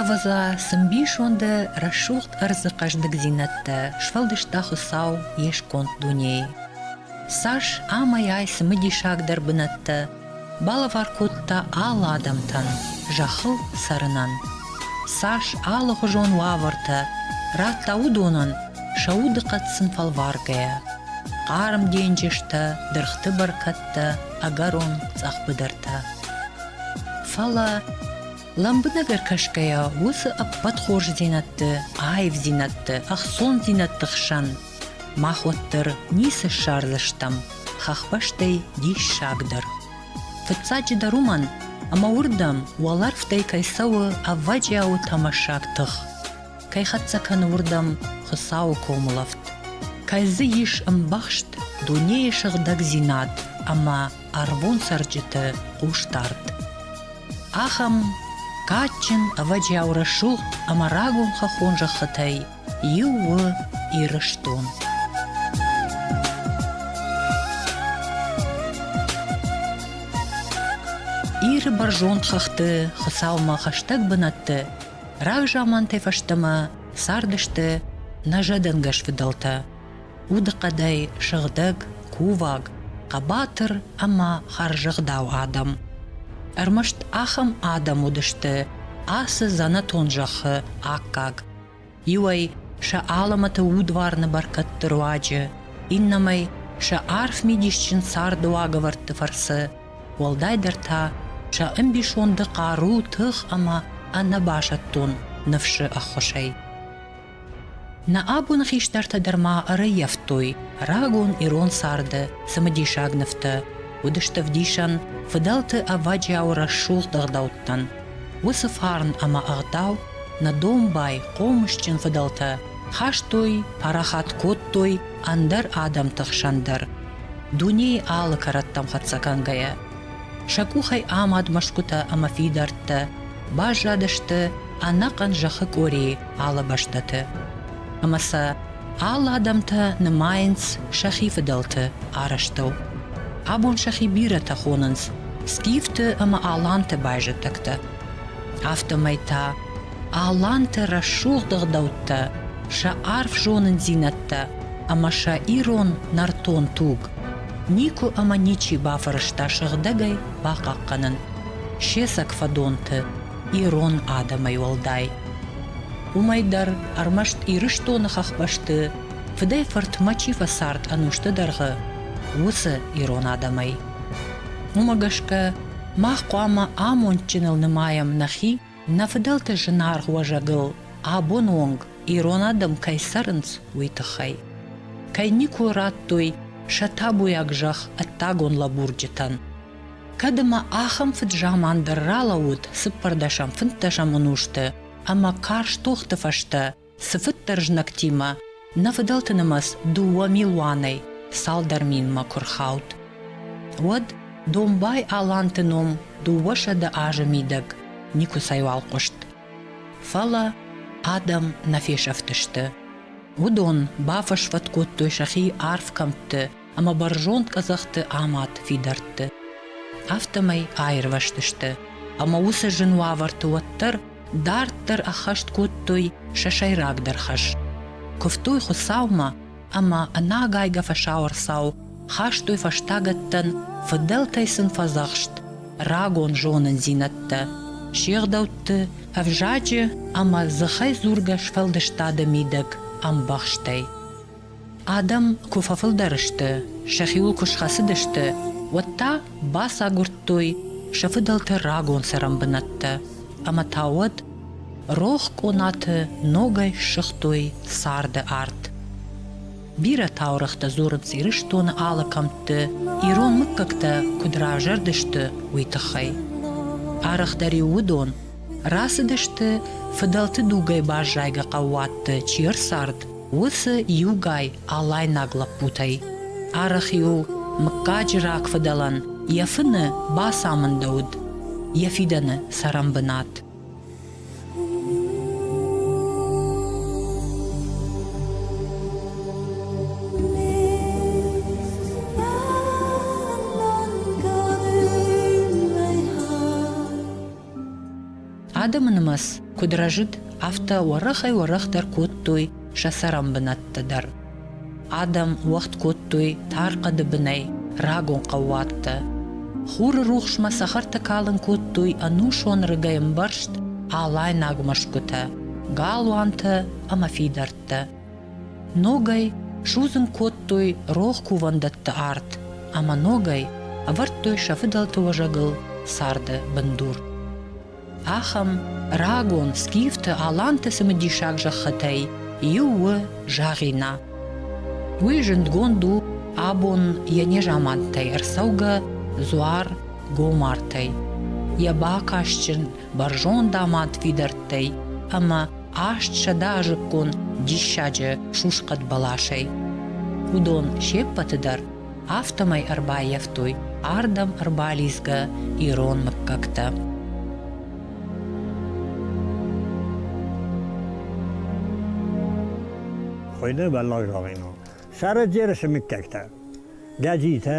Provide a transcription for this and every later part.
Ӕвӕдза, цы мбисонды рӕсугъд ӕрдзы хъӕздыгдзинӕдтӕ сфӕлдыста Хуыцау йе сконд дунейы. Цас ӕмӕйай цымыдисагдӕр бынӕттӕ Балӕвар кодта алы адӕмтӕн зӕххыл цӕрынӕн. Цас алыгъуызон уавӕртӕ радта уыдонӕн сӕ удыхъӕд сын фӕлваргӕйӕ. Хъарм денджызтӕ, дыргъты бӕркӕдтӕ, ӕгӕрон цъӕхбыдыртӕ. Фӕлӕ, лӕмбынӕг ӕркӕсгӕйӕ, уыцы ӕппӕт хорздзинӕдты, аивдзинӕдты, ӕхцондзинӕдты хсӕн Мах уӕддӕр ницы ссардзыстӕм хӕхбӕстӕй диссагдӕр. Фыццаджыдӕр уымӕн, ӕмӕ уырдӕм уӕлӕрвтӕй кӕй цӕуы ӕвӕджиауы тӕмӕссаг тых, кӕй хӕццӕ кӕны уырдӕм Хуыцауы комылӕфт, кӕй дзы ис ӕмбӕхст дунейы сыгъдӕгдзинад ӕмӕ ӕрвон цӕрджыты хъусдард. Ахӕм кадджын ӕвӕджиау рӕсугъд ӕмӕ рагон хӕххон зӕххытӕй иу у Ирыстон. Иры бӕрзонд хыгъды Хуыцаумӕ хӕстӕг бынӕтты рагзамантӕй фӕстӕмӕ цардысты нӕ зӕдӕнгӕс фыдӕлтӕ удыхъӕдӕй сыгъдӕг, куваг, хъӕбатыр ӕмӕ хӕрзӕгъдау адӕм. Ӕрмӕст ахӕм адӕм уыдысты ацы дзӕнӕтон зӕххы аккаг, Иуӕй сӕ алӕмӕты удварны бӕркӕдты руаджы, иннӕмӕй сӕ арф мидисджын царды уагӕвӕрдты фӕрцы, уӕлдайдӕр та сӕ ӕмбисонды хъару, тых ӕмӕ ӕнӕбасӕттон ныфсы ӕххуысӕй. Нӕ абоны хистӕртӕ дӕр ма ӕрӕййӕфтой рагон ирон царды цымыдисаг нывтӕ, уыдысты ӕвдисӕн фыдӕлты ӕвӕджиауы рӕсугъд ӕгъдӕуттӕн. Уыцы фарн ӕмӕ ӕгъдау Нӕ домбай, хъомысджын фыдӕлтӕ хастой, парахат кодтой ӕндӕр адӕмты хсӕн дӕр, дунейы алы кӕрӕттӕм хӕццӕ кӕнгӕйӕ. Сӕ къухӕй амад мӕсгуытӕ ӕмӕ фидӕрттӕ баззадысты ӕнӕхъӕн зӕххы къорийы алы бӕстӕты. Ӕмӕ сӕ алы адӕмтӕ нымайынц сӕхи фыдӕлты арӕзтыл. Абон сӕхи бирӕтӕ хонынц скифты ӕмӕ аланты байзӕддӕгтӕ. афтӕмӕй та аланты рӕсугъд ӕгъдӕуттӕ сӕ арф зонындзинӕдтӕ ӕмӕ сӕ ирон нӕртон туг никуы ӕмӕ ничи бафӕрӕзта сыгъдӕгӕй бахъахъхъӕнын се цӕг фӕдонты ирон адӕмӕй уӕлдай уымӕй дӕр ӕрмӕст ирыстоны хӕхбӕсты фыдӕй фыртмӕ чи фӕцард ӕнусты дӕргъы уыцы ирон адӕмӕй Уымӕ гӕсгӕ мах хъуамӕ амондджыныл нымайӕм нӕхи, нӕ фыдӕлты зынаргъ уӕзӕгыл абоны онг ирон адӕм кӕй цӕрынц, уый тыххӕй. Кӕй никуы радтой сӕ табуйаг зӕхх ӕддагон лӕбурджытӕн. Кӕд ӕмӕ ахӕм фыд-заман дӕр ралӕууыд цыппӕрдӕсӕм, фынддӕсӕм ӕнусты ӕмӕ карз тохты фӕстӕ, цыфыддӕр знӕгтимӕ, нӕ фыдӕлты нымӕц дыууӕ милуанӕй цалдӕр минмӕ куы рхауд, уӕд Домбай-аланты ном дыууӕсӕдӕ азы мидӕг никуыцӕйуал хъуыст. Фӕлӕ адӕм нӕ фесӕфтысты. Уыдон бафӕсвӕд кодтой сӕхи арф кӕмтты ӕмӕ бӕрзонд къӕдзӕхты амад фидӕртты. Афтӕмӕй аирвӕзтысты, ӕмӕ уыцы зын уавӕрты уӕддӕр дарддӕр ӕххӕст кодтой сӕ сӕйрагдӕр хӕс. Куывтой Хуыцаумӕ ӕмӕ ӕнагайгӕ фӕсауӕрцау хастой фӕстагӕттӕн фыдӕлтӕй сын фӕдзӕхст рагон зонындзинӕдтӕ, се гъдӕутты ӕвзаджы ӕмӕ дзыхӕй дзургӕ сфӕлдыстады мидӕг ӕмбӕхстӕй. Адӕм куы фӕфылдӕр сты, сӕхиуыл куы схӕцыдысты, уӕд та бацагуырдтой сӕ фыдӕлты рагон цӕрӕн бынӕттӕ ӕмӕ та уӕд рох къонаты ногӕй ссыгътой царды арт. Бирӕ таурӕгътӕ дзурынц Ирыстоны алы кӕмтты, ирон мыггӕгтӕ куыд равзӕрдысты, уый тыххӕй. Арӕхдӕр-иу уыдон рацыдысты фыдӕлты дугӕй баззайгӕ хъӕууатты чи ӕрцард, Уыцы иугай алайнаг лӕппутӕй арӕх-иу мыггаджы рагфыдӕлӕн йӕ фыны бацамындӕуыд йӕ фидӕны цӕрӕнбынат. Адӕмы нымӕц куыд рӕзыд, афтӕ уӕрӕхӕй-уӕрӕхдӕр кодтой сӕ цӕрӕнбынӕттӕ дӕр. Адӕм уӕгъд кодтой тар хъӕды бынӕй рагон хъӕууӕттӕ. Хуры рухсмӕ цӕхӕртӕ калын кодтой ӕнусон рыгӕй ӕмбӕрзт алайнаг мӕсгуытӕ, галуантӕ ӕмӕ фидӕрттӕ. Ногӕй судзын кодтой рох кувӕндӕтты арт ӕмӕ ногӕй ӕвӕрдтой сӕ фыдӕлты уӕзӕгыл царды бындур. Ахӕм рагон скифты аланты цымыдисаг зӕххытӕй иу у Загъина. Уый зындгонд у абон йӕ незаманттӕй ӕрцӕугӕ дзуар Гомартӕй. Йӕ бакастджын бӕрзонд амад фидӕрттӕй ӕма аст сӕдӕ азиккон диссаджы сусхъӕд бӕласӕй. Уыдон се ппӕты дӕр афтӕмӕй ӕрбаййӕфтой ардӕм ӕрбалидзгӕ ирон мыггӕгтӕ. Хуыйны бӕллӕх зӕгъинаг. Сӕрӕджерысы мыггӕгтӕ. Гӕджитӕ,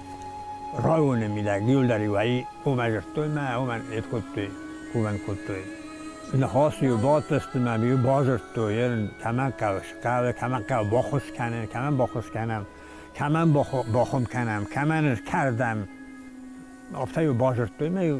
Районы мидӕг иу дӕр иу ӕй, уомӕ дзурдтой мӕ, уомӕ нед кодтой, кувӕн кодтой. Ныхасы иу бадтысты мӕ иу базырдтой, ерын кӕмӕн кӕуыс, кӕуы, кӕмӕн кӕуы, баххуыс кӕнын, кӕмӕн баххуыс кӕнӕм, кӕмӕн бахуым кӕнӕм, кӕмӕн ӕз кӕрдӕм. Афтӕ иу базырдтой мӕ иу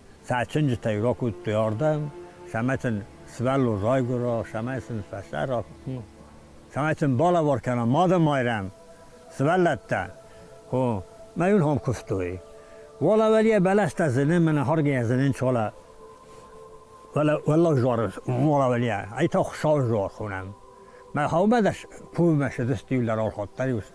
цӕчынджытӕй ракодтой ардӕм, самӕ сын сывӕллон райгуыра, самӕ сын фӕсӕра, самӕ сын балӕвар кӕна Мады Майрӕм, сывӕллӕттӕ, хо, мӕ йын хом куывтой. Вала валия бӕлӕстӕ зыны, мӕнӕ харгӕ зынын чола. Вала, валла жарыз, вала валия, айта хуша жар хонам. Мӕ хаубадаш пувмӕ шыдысти ларалхаттариус,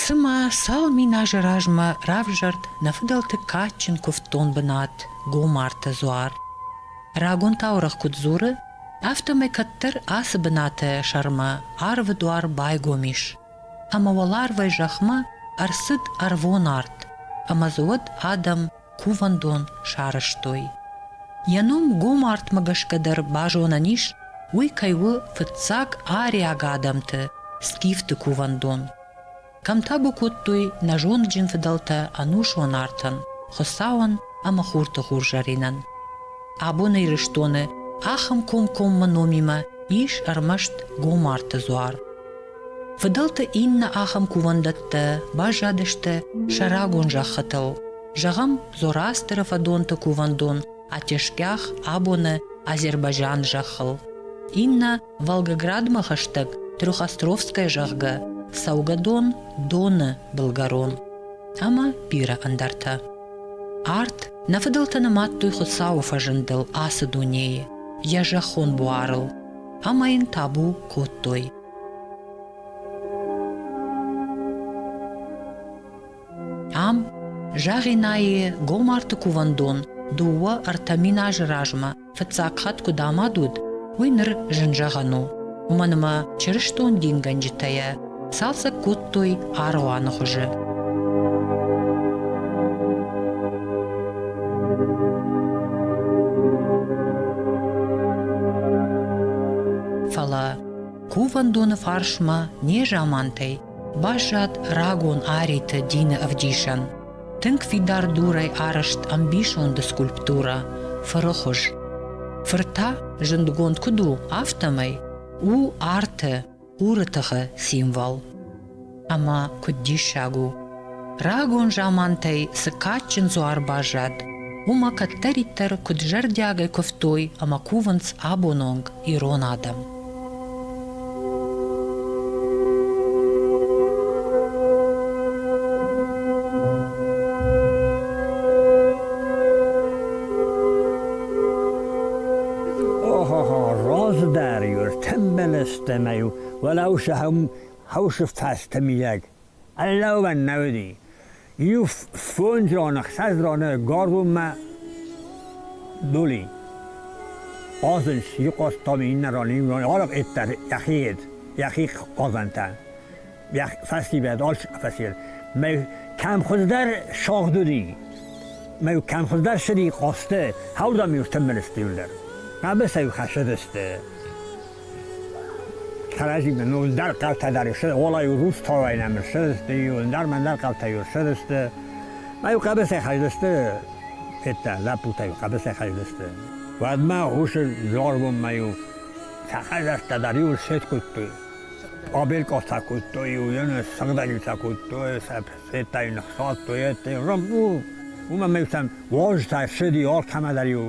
Цымӕ цал мин азы размӕ равзӕрд нӕ фыдӕлты кадджын куывддон бынат Гомарты дзуар? Рагон таурӕгъ куыд дзуры, афтӕмӕй кӕддӕр ацы бынаты сӕрмӕ арвы дуар байгом ис, ӕмӕ уӕларвӕй зӕхмӕ ӕрцыд ӕрвон арт, ӕмӕ дзы уӕд адӕм кувӕндон сарӕзтой. Йӕ ном гом артмӕ гӕсгӕ дӕр базонӕн ис, уый кӕй у фыццаг ариаг адӕмты скифты кувӕндон. Кӕм табу кодтой нӕ зондджын фыдӕлтӕ ӕнусон артӕн, Хуыцауӕн ӕмӕ хурты хурзӕринӕн. Абон Ирыстоны ахӕм комкоммӕ номимӕ ис ӕрмӕст гом арты дзуар. Фыдӕлты иннӕ ахӕм кувӕндӕттӕ баззадысты сӕ рагон зӕххытыл. Зӕгъӕм, Зорастыры фӕдонты кувӕндон Атешкях абоны Азербайджан зӕххыл. Иннӕ Волгоградмӕ хӕстӕг Трехостровская зӕгъгӕ цӕугӕдон Доны былгӕрон ӕмӕ бирӕ ӕндӕртӕ. Арт нӕ фыдӕлтӕ нымадтой Хуыцауы фӕзындыл ацы дунейы, йӕ зӕххон буарыл, ӕмӕ йын табу кодтой. Ам Загъинайы гомарты кувӕндон дыууӕ ӕртӕ мин азы размӕ фыццаг хатт куыд амад уыд, уый ныр зын зӕгъӕн у. Уымӕн ӕмӕ чырыстон дингӕнджытӕ йӕ цалцӕг кодтой аргъуаны хуызы. Фӕлӕ Кувӕндоны фарсмӕ незамантӕй баззад рагон ариты дины ӕвдисӕн. Тынг фидар дурӕй арӕзт ӕмбисонды скульптурӕ фыры хуыз. Фыр та зындгонд куыд у, афтӕмӕй у арты, хуры тыхы символ. ӕмӕ куыд диссаг у, рагон замантӕй цы кадджын дзуар баззад, уымӕ кӕддӕриддӕр куыд зӕрдиагӕй куывтой ӕмӕ кувынц абон онг ирон адӕм. Разы дӕр йур тӕмбӕлӕстӕ мӕй, уӕлау сӕм Хъусы фӕстӕ мидӕг ӕрлӕууӕн нӕ уыди. Иу фондз зоны, хсӕз зоны Горуммӕ дули. Хъазынс, иу хъазтам, иннӕ ран, иннӕ ран, алак эттер, яхиед, яхих хъазантан. Фӕстибед ач фасир. Мӕ кӕмхуыздӕр шагъдуди. Мӕ кӕмхуыздӕр шыди хъазты, хауда мюртын мирстюллер. Абы сӕ хашыдысты. Кӕрӕдзимӕ ноылдар хъӕутӕ дӕр сты, олайу рустовай нӕмы сыдысты, иуылдар-мӕндар хъӕутӕ иу сыдысты. Ма иу хъӕбысӕй хӕздысты, федта, лӕппутӕ иу хъӕбысӕй хӕздысты. Уӕдмӕ гъусы дзорбонмӕ иу сахъазӕрттӕ дӕр иу сеткуыдтой. Къобель-къофтӕ кодтой, иу йены сыгъдӕджытӕ кодтой, федта иу ныхсадтой, етты, рабу! Уымӕ мӕ иутӕн вожтӕ ссыди, ортӕмӕ дӕр иу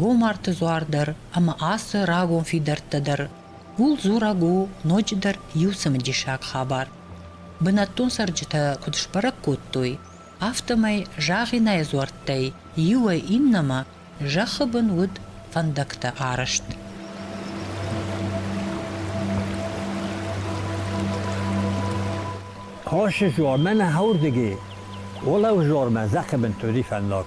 Гомарты дзуар дӕр ӕмӕ ацы рагон фидӕрттӕ дӕр ууыл дзурӕг у ноджыдӕр иу цымыдисаг хабар. Бынӕттон цӕрджытӕ куыд сбӕрӕг кодтой, афтӕмӕй Загъинайы дзуӕрттӕй иуӕй иннӕмӕ зӕххы бын уыд фӕндӕгтӕ арӕзт. Хъосы жуармӕ нӕ хӕрдиги, уолӕу жуармӕ зӕххи бын туди фӕндаг.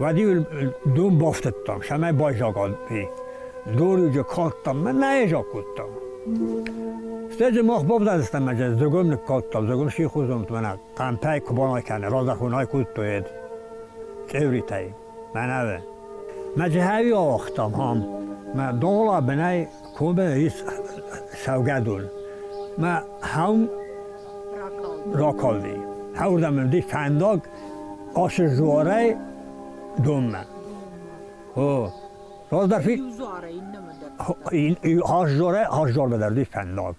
Уӕд-иу дон бафтыдтам, цӕмӕй байзаган и. Дон иу калдтам, мӕ нӕ айзаг кодтам. Стӕй дзы мах бавдадзыстӕм ӕмӕ зӕгом ныккалдтам, зӕгом сихозон мӕнӕ хъампӕй куы банакӕна, разахон айкодтоед цевритӕй, мӕнӕве. Мӕ джихӕви ауагътам ам, мӕ дола бынӕй кобе ис сӕвгӕдон. Мӕ хӕм ракалди. Хӕвдам ди фӕндаг Асыздуарӕй донмӕ. О, раздӕр фи... Асздуарӕй асздуармӕ дӕр дистан ног.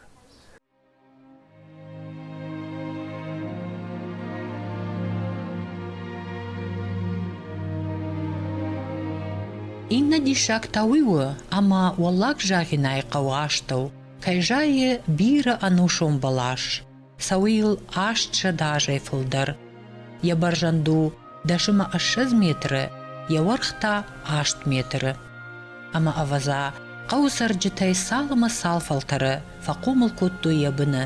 Иннӕ диссаг та уый у, ӕмӕ Уӕллаг Загъинайы хъӕуы астӕу кӕй зайы бирӕ ӕнусон бӕлас. Цӕуы йыл аст зӕдӕ азӕй фылдӕр. Йӕ бӕрзӕнд у дӕсымы ӕссӕдз метры, йӕ уӕрх та аст метры. Ӕмӕ ӕвӕдза, хъӕуы цӕрджытӕй цал ӕмӕ цал фӕлтӕры фӕхъомыл кодтой йӕ быны.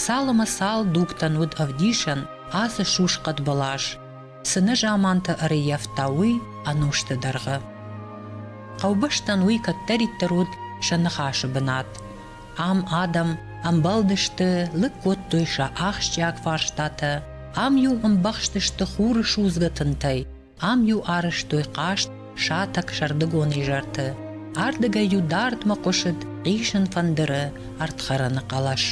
Цал ӕмӕ цал дугтӕн уыд ӕвдисӕн ацы сусхъӕд бӕлас, цы нӕ заманты ӕрыййӕфта уый ӕнусты дӕргъы. Хъӕубӕстӕн уый кӕддӕриддӕр уыд сӕ ныхасы бынат. Ам адӕм ӕмбӕлдысты, лыг кодтой сӕ ахсджиаг фарстатӕ, ам-иу ӕмбӕхстысты хуры судзгӕ тынтӕй, ам-иу арӕзтой хъаст сатӕг сӕрдыгон изӕрты. Ардыгӕй-иу дардмӕ хъуысыд хъисын фӕндыры ӕрдхӕрӕны хъӕлӕс.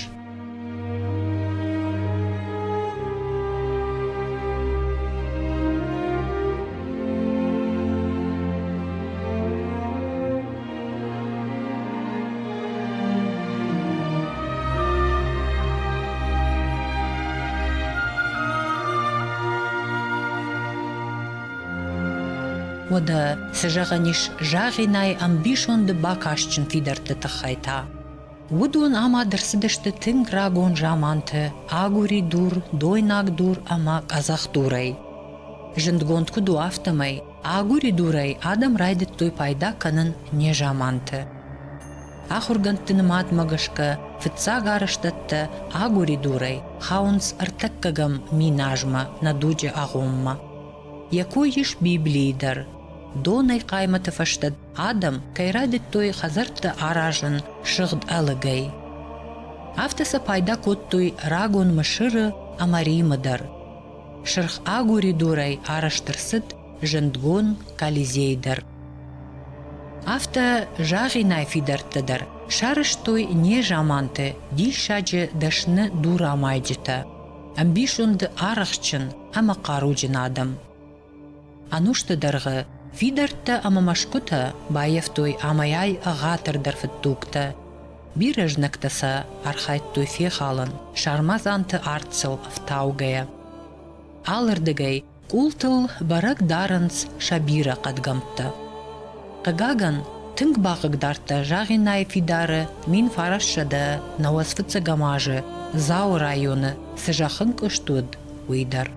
Уӕдӕ цы зӕгъӕн ис Загъинайы ӕмбисонды бакастджын фидӕртты тыххӕй та? Уыдон амад ӕрцыдысты тынг рагон заманты агури дур, дойнаг дур ӕмӕ къӕдзӕх дурӕй. Зындгонд куыд у, афтӕмӕй Агуыридурӕй адӕм райдыдтой пайда кӕнын незаманты. Ахуыргӕндты нымадмӕ гӕсгӕ фыццаг арӕзтӕдтӕ агуыридурӕй хауынц ӕртӕккӕгӕм мин азмӕ нӕ дуджы агъоммӕ. Йӕ кой ис Библийы дӕр. Донӕй хъаймӕты фӕстӕ адӕм кӕй райдыдтой хӕдзӕртты аразын сыгъд ӕлыгӕй. Афтӕ сӕ пайда кодтой рагон Мысыры ӕмӕ Римы дӕр. Сырх агури дурӕй арӕзт ӕрцыд зындгон Колизей дӕр. Афтӕ загъинай фидӕрттӕ дӕр сарӕзтой незаманты диссаджы дӕсны дурамайджытӕ, ӕмбисонды арӕхстджын ӕмӕ хъаруджын адӕм. Ӕнусты дӕргъы фидӕрттӕ ӕмӕ мӕсгуытӕ баййӕфтой амӕй-ай ӕгъатырдӕр фыдтугтӕ. Бирӕ знӕгтӕ сӕ архайдтой фехалын, сармадзанты арт сыл ӕфтаугӕйӕ. Алырдыгӕй къултыл бӕрӕг дарынц сӕ бирӕ хъӕдгӕмттӕ. Хъыгагӕн, тынг бахъыгдардта Загъинайы фидары мин фарассӕдӕ науӕдз фыццӕгӕм азы Дзауы районы цы зӕххынкъуыст уыд, уый дӕр.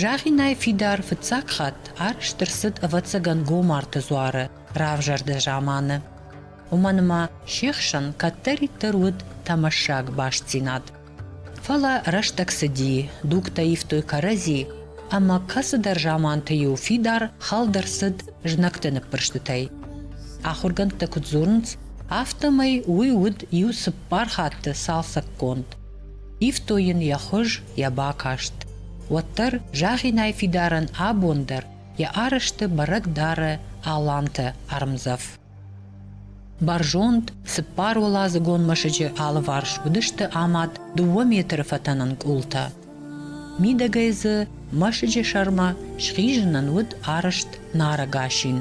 Зӕгъинӕй фидар фыццаг хатт арӕзт ӕрцыд, ӕвӕццӕгӕн, Гомарты дзуары равзӕрды заманы. Уымӕн ӕмӕ се хсӕн кӕддӕриддӕр уыд тӕмӕссаг бастдзинад. Фӕлӕ рӕстӕг цыди, дугтӕ ивтой кӕрӕдзи, ӕмӕ кӕцыдӕр заманты-иу фидар хӕлд ӕрцыд знӕгты ныппырстытӕй. Ахуыргӕндтӕ куыд дзурынц, афтӕмӕй уый уыд иу цыппар хатты цалцӕггонд. Ивтой йын йӕ хуыз, йӕ бакаст. Уӕддӕр Загъинӕй фидарӕн абон дӕр йӕ арӕзты бӕрӕг дары аланты ӕрмдзӕф. Бӕрзонд, цыппар уӕладзыгон мӕсыджы алыварс уыдысты амад дыууӕ метры фӕтӕнӕн къултӕ. Мидӕгӕй дзы мӕсыджы сӕрмӕ схизынӕн уыд арӕзт нарӕг асин.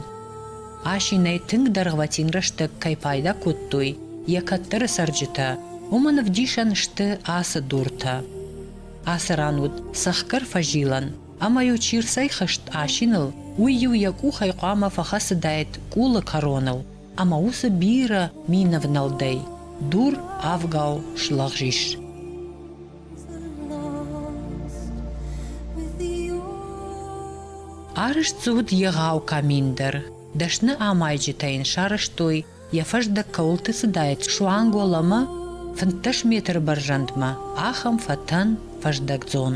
Асинӕй тынг дӕргъвӕтин рӕстӕг кӕй пайда кодтой йӕ кӕддӕры цӕрджытӕ, уымӕн ӕвдисӕн сты ацы дуртӕ. Ацы ран уыд цӕхгӕр фӕзилӕн, ӕмӕ-иу чи рцӕйхызт асиныл, уый-иу йӕ къухӕй хъуамӕ фӕхӕцыдаид къулы кӕроныл, ӕмӕ уыцы бирӕ мин ӕвнӕлдӕй дур авгау слӕгъз ис. Арызт дзы уыд егъау камин дӕр. Дӕсны амайджытӕ йын сарӕзтой, йӕ фӕздӕг кӕуылты цыдаид суанг ӕмӕ фынддӕс метры бӕрзӕндмӕ ахӕм фӕтӕн фӕздӕгдзон.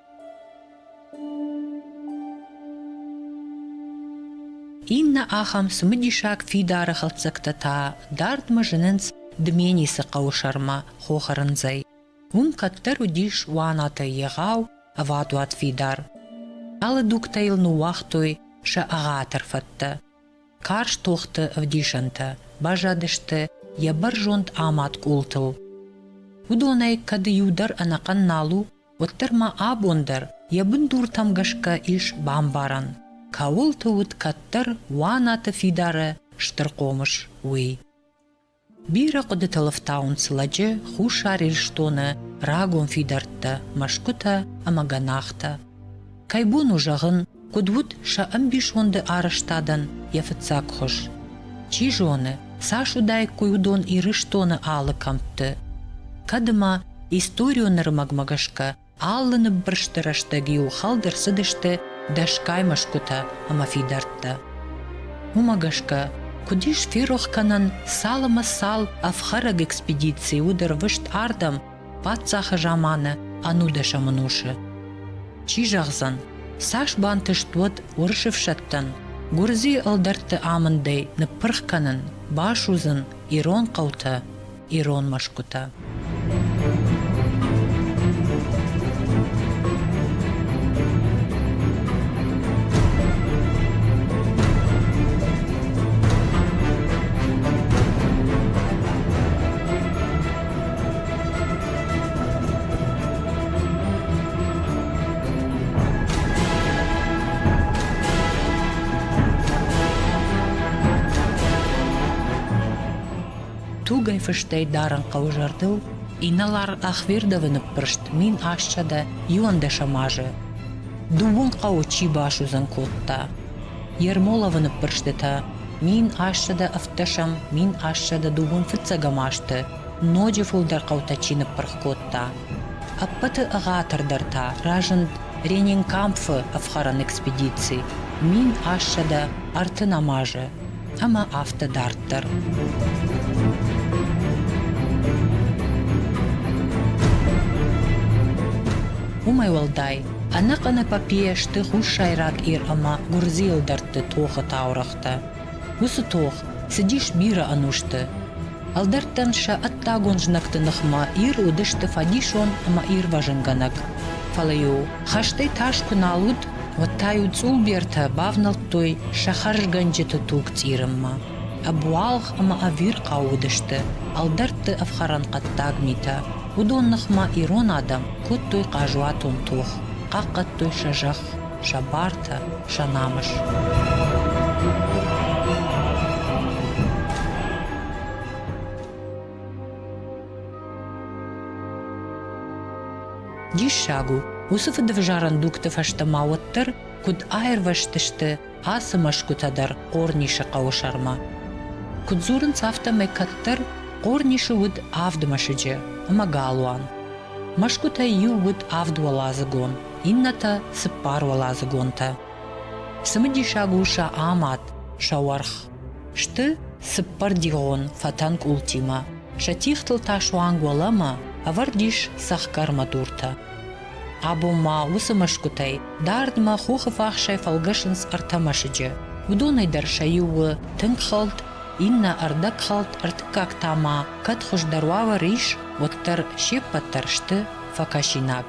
Иннӕ ахӕм цымыдисаг фидары хӕлддзӕгтӕ та дардмӕ зынынц Дменисы хъӕуы сӕрмӕ хохырындзӕй. Уым кӕддӕр уыдис уанатӕй егъау ӕвадуат фидар. Алы дугтӕ йыл ныууагътой сӕ ӕгъатыр фӕдтӕ. Карз тохты ӕвдисӕнтӕ базадысты йӕ бӕрзонд амад къултыл. Уыдонӕй, кӕд иу дӕр ӕнӕхъӕн нал у, уӕддӕр ма абон дӕр йӕ бындуртӕм гӕсгӕ ис бамбарӕн, кӕуылты уыд кӕддӕр уанаты фидары стыр хъомыс, уый. Бирӕ хъуыдыты лыфтауынц лӕджы Хуссар Ирыстоны рагон фидӕрттӕ, мӕсгуытӕ ӕмӕ гӕнахтӕ. Кӕй бон у зӕгъын, куыд уыд сӕ ӕмбисонды арӕзтадӕн йӕ фыццаг хуыз? Чи зоны, цас уыдаиккой уыдон Ирыстоны алы кӕмтты. Кӕд ӕмӕ историон нырмӕгмӕ гӕсгӕ алы ныббырсты рӕстӕг-иу хӕлд ӕрцыдысты дӕсгай мӕсгуытӕ ӕмӕ фидӕрттӕ. Уымӕ гӕсгӕ куыд ис ферох кӕнӕн цал ӕмӕ цал ӕфхӕрӕг экспедици уыд ӕрвыст ардӕм паддзахы заманы ӕнудӕсӕмӕн уырсы. Чи зӕгъдзӕн, цас бантыст уӕд уырысы ӕфсӕдтӕн Гуырдзийы ӕлдӕртты амындӕй ныппырх кӕнын, басудзын ирон хъӕутӕ, ирон мӕсгуытӕ. Тугӕй фыстӕй дарын хъӕуы зӕрдыл инӕлар Ахвердовы ныппырст мин ӕссӕдӕ иуӕндӕсӕм азы. Дыууын хъӕуы чи басудзӕн кодта, Ермоловы ныппырстытӕ мин ассӕдӕ ӕвддӕсӕм, мин ассӕдӕ дыууын-фыццӕгӕм азты ноджы фылдӕр хъӕутӕ чи ныппырх кодта. Ӕппӕты ӕгъатырдӕр та разынд Ренинкампфы ӕфхӕрӕн экспедици мин ассӕдӕ ӕртын ӕмазы. ӕмӕ афтӕ дарддӕр. Уымӕй уӕлдай, ӕнӕхъӕнӕ папийӕ сты хуссайраг Ир ӕмӕ гуырдзийыл дӕтты тохы таурӕгътӕ. Уыцы тох цыдис бирӕ ӕнусты, Ӕлдӕрттӕн сӕ ӕддагон знӕгты ныхмӕ Ир уыдысты фӕдисон ӕмӕ ирвӕзынгӕнӕг. Фӕлӕ-иу, хӕстӕй тас куы нал уыд, уӕд та-иу цъулбертӕ бавнӕлдтой сӕ хӕрзгӕнджыты туг цъирынмӕ. Ӕбуалгъ ӕмӕ ӕвирхъау уыдысты ӕлдӕртты ӕфхӕрӕн хъӕддаг митӕ. Уыдон ныхмӕ ирон адӕм кодтой хъазуатон тох, хъахъхъӕдтой сӕ зӕхх, сӕ бартӕ, сӕ намыс. Диссаг у, уыцы фыдӕвзарӕн дугты фӕстӕ ма уӕддӕр куыд аирвӕзтысты ацы мӕсгуытӕ дӕр Хъорнисы хъӕуы сӕрмӕ. Куыд дзурынц, афтӕмӕй кӕддӕр Хъорнисы уыд авд мӕсыджы ӕмӕ галуан. Мӕсгуытӕй иу уыд авд уӕладзыгон, иннӕтӕ цыппар уӕладзыгонтӕ. Цымыдисаг у сӕ амад, сӕ уӕрх. Сты цыппӕрдигъон фӕтӕн къултимӕ. Сӕ тихтыл та суанг уӕлӕмӕ ӕвӕрд ис цӕхгӕрмӕ дуртӕ. Абон ма уыцы мӕсгуытӕй дардмӕ хохыфахсӕй фӕлгӕсынц ӕртӕ мӕсыджы. Уыдонӕй дӕр сӕ иу у тынг хӕлд, иннӕ ӕрдӕгхӕлд, ӕртыккаг та ма, кӕд хуыздӕр уавӕр ис, уӕддӕр се ппӕт дӕр сты фӕкӕсинаг.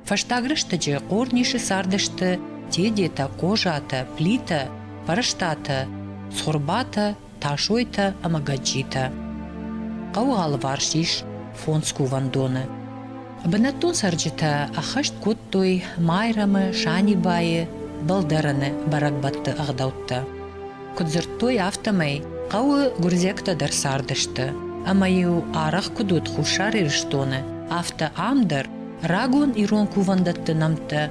Фӕстаг рӕстӕджы Хъорнисы цардысты Тедетӕ, Хъозатӕ, Плитӕ, Фӕрстатӕ, Цхуырбатӕ, Тасойтӕ ӕмӕ Гӕджджитӕ. Хъӕуы алыварс ис фондз кувӕндоны. Бынӕттон цӕрджытӕ ӕххӕст кодтой Майрӕмы, Санибайы, Балдӕрыны бӕрӕгбӕтты ӕгъдӕуттӕ. Куыд дзырдтой, афтӕмӕй хъӕуы гуырдзиӕгтӕ дӕр цардысты, ӕмӕ-иу арӕх куыд уыд Хуссар Ирыстоны, афтӕ ам дӕр рагон ирон кувӕндӕтты нӕмттӕ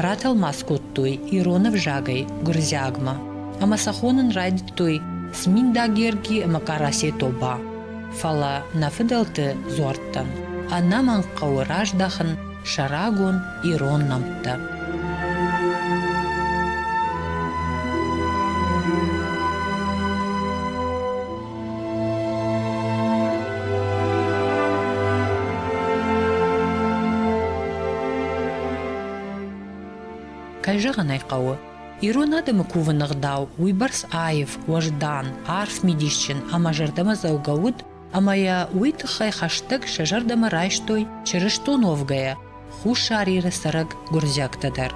ратӕлмац кодтой ирон ӕвзагӕй гуырдзиагмӕ ӕмӕ сӕ хонын райдыдтой Сминдагерги ӕмӕ Къарасе тобӕ. Фӕлӕ нӕ фыдӕлты дзуӕрттӕн ӕнӕмӕнг хъӕуы раздахын сӕ рагон ирон нӕмттӕ. Кӕй зӕгъын ӕй хъӕуы, ирон адӕмы кувыны гъдау уыйбӕрц аив, уӕздан, арф мидисджын ӕмӕ зӕрдӕмӕдзӕугӕ уыд, ӕмӕ йӕ уый тыххӕй хӕстӕг сӕ зӕрдӕмӕ райстой чырыстон уӕвгӕйӕ Хуссар Иры цӕрӕг гуырдзиӕгтӕ дӕр.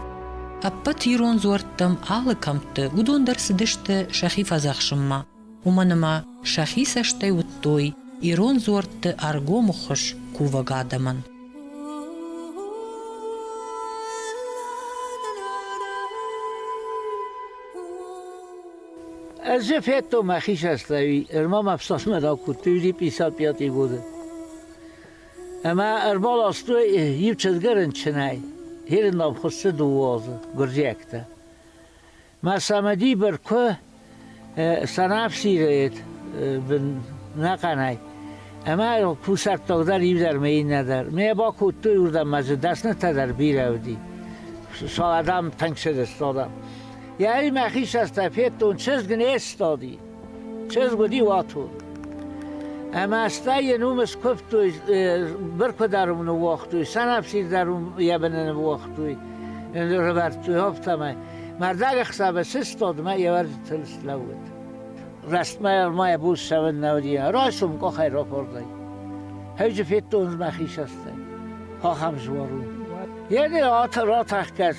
Ӕппӕт ирон дзуӕрттӕм алы кӕмтты уыдон дӕр цыдысты сӕхи фӕдзӕхсынмӕ, уымӕн ӕмӕ сӕхи цӕстӕй уыдтой ирон дзуӕртты ӕргомы хуыз кувӕг адӕмӕн. Ӕз же федтон мӕ хисӕрттӕй, ӕрма мӕ фсасмӕ ракодтой уди 55 годы. Ӕмӕ ӕрбаластой иу чызгы рынчынӕй, хирынӕн хуыссы дыууӕ азы, гуырдзиӕгтӕ. Мӕ цамӕдибыр куы сӕнӕфсирыид бын нӕхъӕнӕй, ӕмӕ кусӕрттагдӕр иудӕр мӕ иннӕдӕр. Ме бакодтой уырдӕм мӕ дзы дӕснытӕ дӕр бирӕ уыди. Шал адӕм тӕнг сыдысты адӕм. Йӕри мӕ хисӕртӕ федтон, чызг не сстади, чызг уыди уатон. Ӕмӕ стӕй йын уым скуывтой, быркуы дӕр уым ныууагътой, сӕнӕфсир дӕр уым йӕ быны ныууагътой, рывӕрдтой афтӕмӕй. Мардаг ӕхсӕвы сыстад мӕ йӕ вӕрджытыл слӕууыд. Рӕстмӕ ма йӕ буц сӕвын нӕ уыди, райсом къухӕй рапордӕй. Хӕджы федтон мӕ хисӕртӕй. Ахӕм жуар у. Йеди ратахгӕс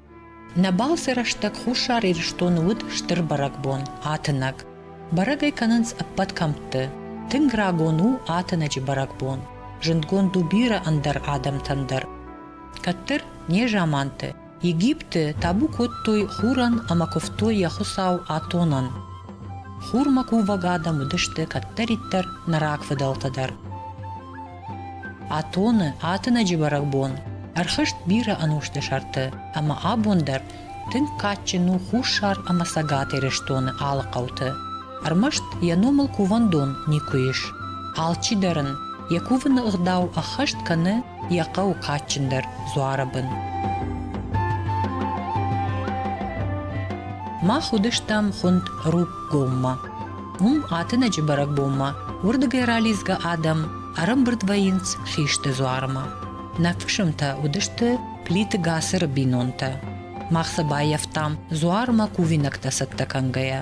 Нӕ балцы рӕстӕг Хуссар Ирыстоны уыд стыр бӕрӕгбон, атынӕг. Бӕрӕг ӕй кӕнынц ӕппӕт кӕмтты. Тынг рагон у атынӕджы бӕрӕгбон, зындгонд у бирӕ ӕндӕр адӕмтӕн дӕр. Кӕддӕр, незаманты, Египты табу кодтой хурӕн ӕмӕ куывтой йӕ хуыцау Атонӕн. Хурмӕ кувӕг адӕм уыдысты кӕддӕриддӕр нӕ рагфыдӕлтӕ дӕр. Атоны атынӕджы бӕрӕгбон ӕрхызт бирӕ ӕнусты сӕрты ӕмӕ абон дӕр тынг кадджын у Хуссар ӕмӕ Цӕгат Ирыстоны алы хъӕуты. Ӕрмӕст йӕ номыл кувӕндон никуы ис. Алчи дӕр ын йӕ кувыны ӕгъдау ӕххӕст кӕны йӕ хъӕуы кадджындӕр дзуары бын. Мах уыдыстӕм хуынд Рукгоммӕ. Уым атынӕджы бӕрӕгбонмӕ уырдыгӕй ралидзгӕ адӕм ӕрӕмбырд вӕййынц хисты дзуармӕ. Нӕ фысымтӕ уыдысты Плиты Гацыры бинонтӕ. Мах сӕ баййӕфтам дзуармӕ кувинӕгтӕ цӕттӕ кӕнгӕйӕ.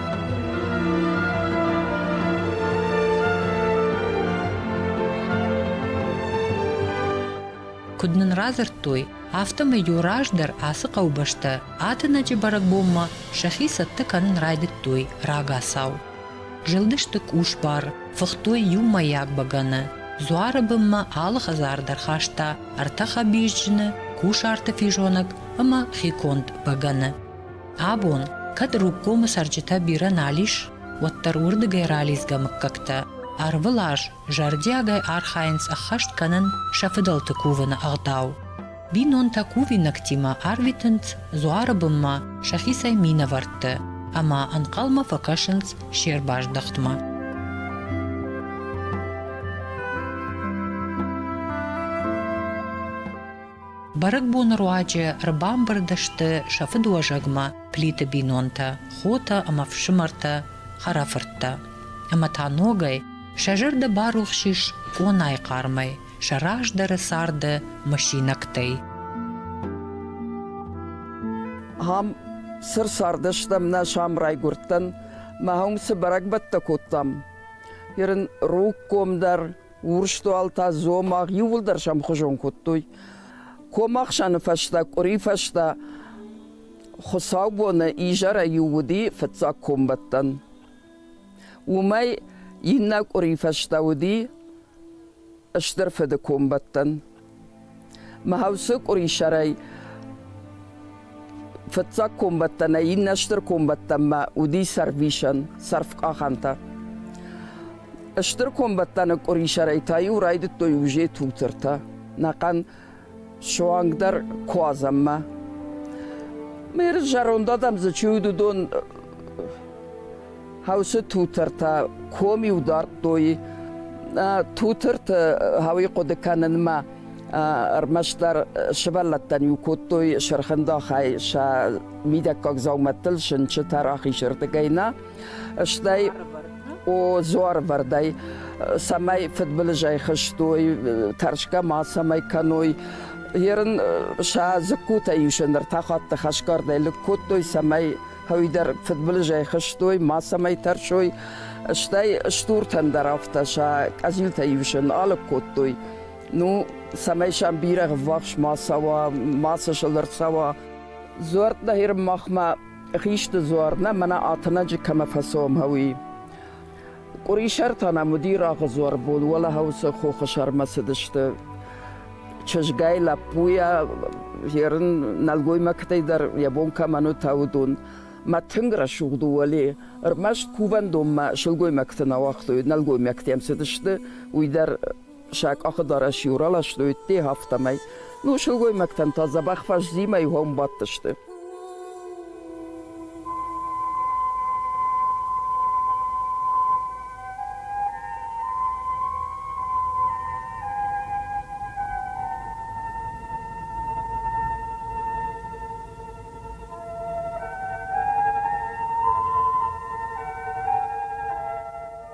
Куыд нын радзырдтой, афтӕмӕй-иу раздӕр ацы хъӕубӕстӕ Атынӕджы бӕрӕгбонмӕ сӕхи цӕттӕ кӕнын райдыдтой рагацау. Зылдысты къусбар, фыхтой иумӕйаг бӕгӕны. Дзуары бынмӕ алы хӕдзар дӕр хаста ӕртӕ хӕбизджыны, кусарты физонӕг ӕмӕ хиконд бӕгӕны. Абон, кӕд Рубкомы цӕрджытӕ бирӕ нал ис, уӕддӕр уырдыгӕй ралидзгӕ мыггӕгтӕ ӕрвылаз зӕрдиагӕй архайынц ӕххӕст кӕнын сӕ фыдӕлты кувыны ӕгъдау. Бинонтӕ кувинӕгтимӕ арвитынц дзуары бынмӕ сӕхицӕй минӕвӕртты ӕмӕ ӕнхъӕлмӕ фӕкӕсынц се рбаздӕхтмӕ. Бӕрӕгбоны руаджы ӕрбамбырд сты сӕ фыдуӕзӕгмӕ Плиты бинонтӕ, хотӕ ӕмӕ фсымӕртӕ, хӕрӕфырттӕ. Ӕмӕ та ногӕй сӕ зӕрдӕ барухс ис къонайы хъармӕй, сӕ раздӕры царды мысинӕгтӕй. Ам сыр цардыстӕм, нӕ сӕм райгуырдтӕн. Мӕ уым цы бӕрӕгбӕттӕ кодтам. Ныр ын роггом дӕр Урстуал та дзомагъ иууылдӕр сӕмхуызон кодтой. Комахсӕны фӕстӕ, къуыри фӕстӕ хуыцаубоны изӕрӕй иу уыди фыццаг комбӕттӕн. Уымӕй иннӕ къуыри фӕстӕ уыди стыр фыды комбӕттӕн. Мӕ хӕусы къуырисӕрӕй фыццаг комбӕттӕ нӕ иннӕ стыр комбӕттӕнмӕ уыди сӕрвисӕн, сӕрфкъахӕнтӕ. Стыр комбӕттӕны къуырисӕрӕй та-иу райдыдтой узе тутыртӕ, нӕхъӕн суангдӕр куадзӕнмӕ. Мыр зӕронд адӕм дзы чи уыд, уыдон Хӕусы тутыртӕ ком-иу дардтой тутырты хауи хъуыды кӕнынмӕ. Ӕрмӕстдӕр сывӕллӕттӕн-иу кодтой сырхындахӕй сӕ мидӕггаг дзаумӕттыл сынчытӕ рахизырдыгӕй нӕ, стӕй о дзуарвӕрдӕй, цӕмӕй фыдбылызӕй хызтой, тӕрсгӕ мацӕмӕй кӕной. Ерын сӕ дзыккутӕ-иу сын ӕртӕ хатты хӕсгардӕй лыг кодтой, цӕмӕй Уый дӕр фыдбылызӕй хызтой, мацӕмӕй тӕрсой, стӕй стуртӕн дӕр афтӕ сӕ къӕдзилтӕ ивсын алыг кодтой. Ну, цӕмӕй сӕм бирӕ ввахс ма цӕуа, мацы сыл ӕрцӕуа. Дзуар нӕхир махмӕ хисты дзуар нӕ, мӕнӕ атынӕджы кӕмӕ фӕцомы, уый. Къуырисӕртӕ нӕм уыди рагъыдзуар бон, уӕлӕхауцы хохы сӕрмӕ цыдысты. Чызгай, лӕппуйӕ, ерын нӕлгоймӕгтӕй дӕр йӕ бон кӕмӕн уыд, уыдон. Мӕ тынг рӕсугъд у Уӕле. Ӕрмӕст кувӕндонмӕ сылгоймӕгты нӕ уагътой, нӕлгоймӕгтӕм цыдысты, уый дӕр сӕ къахыдарӕс-иу раластой те, афтӕмӕй. Ну, сылгоймӕгтӕн та дзӕбӕх фӕззимӕй уӕм бадтысты.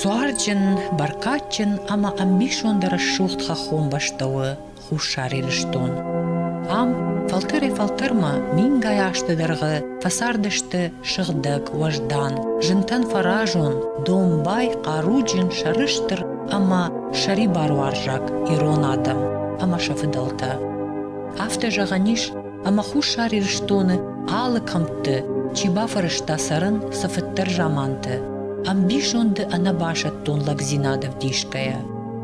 Зуарджын, бӕркадджын ӕмӕ ӕмбисонд рӕсугъд хӕххон бӕстӕ у Хуссар Ирыстон. Ам фӕлтӕрӕй-фӕлтӕрмӕ мингай азты дӕргъы фӕцардысты сыгъдӕг уӕздан, зынтӕн фӕразон, домбай, хъаруджын, сӕрыстыр ӕмӕ сӕрибаруарзаг ирон адӕм ӕмӕ сӕ фыдӕлтӕ. Афтӕ зӕгъӕн ис, ӕмӕ Хуссар Ирыстоны алы кӕмтты чи бафӕрӕзта цӕрын цы фыддӕр заманты ӕмбисонды ӕнӕбасӕттон лӕгдзинад ӕвдисгӕйӕ.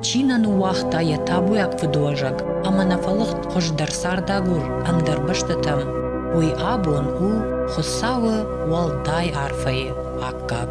Чи нӕ ныууагъта йӕ табуйаг фыдуӕзӕг ӕмӕ нӕ фӕлыгъд хуыздӕр цардагур ӕндӕр бӕстӕтӕм, уый абон у Хуыцауы уӕлдай арфӕйы аккаг.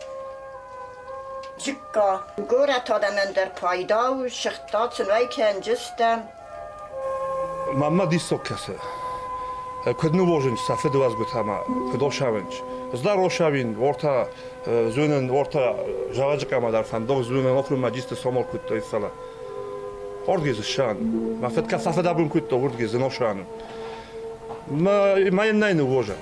Горӕт адӕмӕн дӕр пайда у, сыгъдтӕ цынӕй кӕнджытӕ. Маммӕ диссаг кӕсы. Куыд нывозынч сӕ фыдуӕзгуытӕмӕ, куыд охсавынч. Здар охсауин, уортӕ зуйнын, уортӕ зӕгъӕджы къама дӕр фӕндох зуйнын округмӕ джисты сомор кодтой сала. Ордгезы шан. Мӕ фыд кӕ фӕфыдӕбон кодта ордгезы ношаны. Мӕ мӕ нӕй нывозӕн.